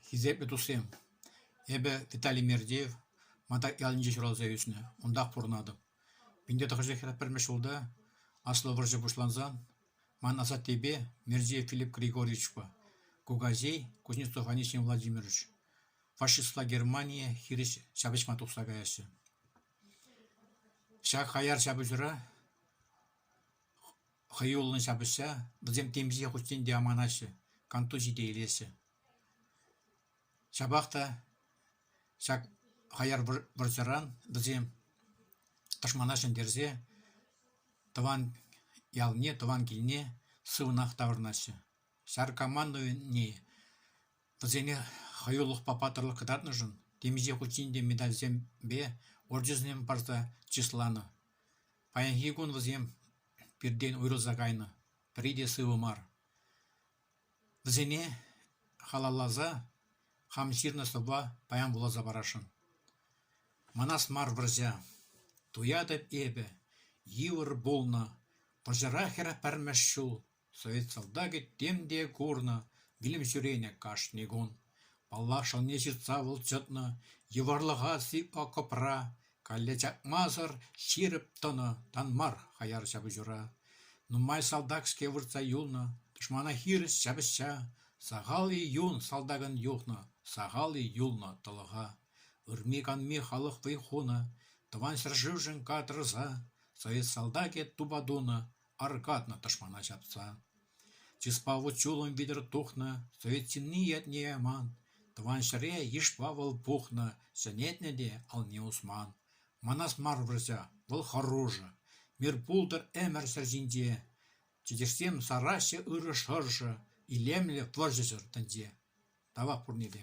Хисеплӗ туссем, эпӗ Виталий Мердеев, Матак ялӗнче ҫуралса ӳснӗ, унтах пурӑнатӑп. Пинте тӑхӑрҫӑхра пӗрремӗш ҫулта аслӑ вӑрҫӑ пуҫлансан ман асаттепе Мердеев Филипп Григорьевичпа кукаҫей Кузнецов Анисим Владимирович фашистла Германие хирӗҫ ҫапӑҫма тухса каяҫҫӗ. Ҫак хаяр ҫапӑҫура Хӑюллӑн ҫапӑҫса вӗсем темиҫе хутчен те аманаҫҫӗ, кантур ҫите илеҫҫӗ. Ҫапах та ҫак хаяр вӑрҫӑран вӗсем тӑшмана ҫӗнтерсе тӑван ялне, тӑван килне сывӑнах таврӑнаҫҫӗ. Ҫар командованийӗ вӗсене хӑюлӑхпа паттӑрлӑх кӑтартнӑшӑн темиҫе хутчен те медальсемпе орденсем парса чысланӑ. Паянхи кун вӗсем пиртен уйрӑлса кайнӑ, пӗри те сывӑ мар. Вӗсене халалласа хам ҫырнӑ столпа паян вуласа парасшӑн. Манас мар вӑрҫа. Туятӑп эпӗ, йывӑр пулнӑ. Вӑрҫӑра хӗр пӗрмӗш ҫул Совет салтакӗ тем те курнӑ, вилӗм ҫӳренӗ кашни кун. Паллах, шӑлне ҫыртса вӑлчӑтнӑ, йывӑрлӑха сыпӑ кӑпра, калле чакмасӑр ҫирӗп тӑнӑ, тан мар хаяр ҫапӑҫура. Нумай салтак-ҫке выртса юлнӑ, тӑшмана хирӗҫ ҫапӑҫса, сахал-и юн салтакӑн юхнӑ, сахал-и юлнӑ тӑлӑха. Ырми-канми халӑх вӑй хунӑ, Тӑван ҫӗршывшӑн катрӑса, совет салтакӗ тупа тунӑ, аркатнӑ тӑшмана ҫапса. Чыспа вут-ҫулӑм витӗр тухнӑ совет ҫынни ятне яман, тӑван ҫӗре йышпа вӑл пухнӑ, ҫӗнетнӗ те алне усман. Манас мар вӑрҫа, вӑл хӑрушӑ. Мир пултӑр ӗмӗр ҫӗр ҫинче. Чӗкеҫсем сараҫҫӗ ырӑ шӑршӑ, илемлӗ вӑрҫӑсӑр тӗнче. Тавах пурне те.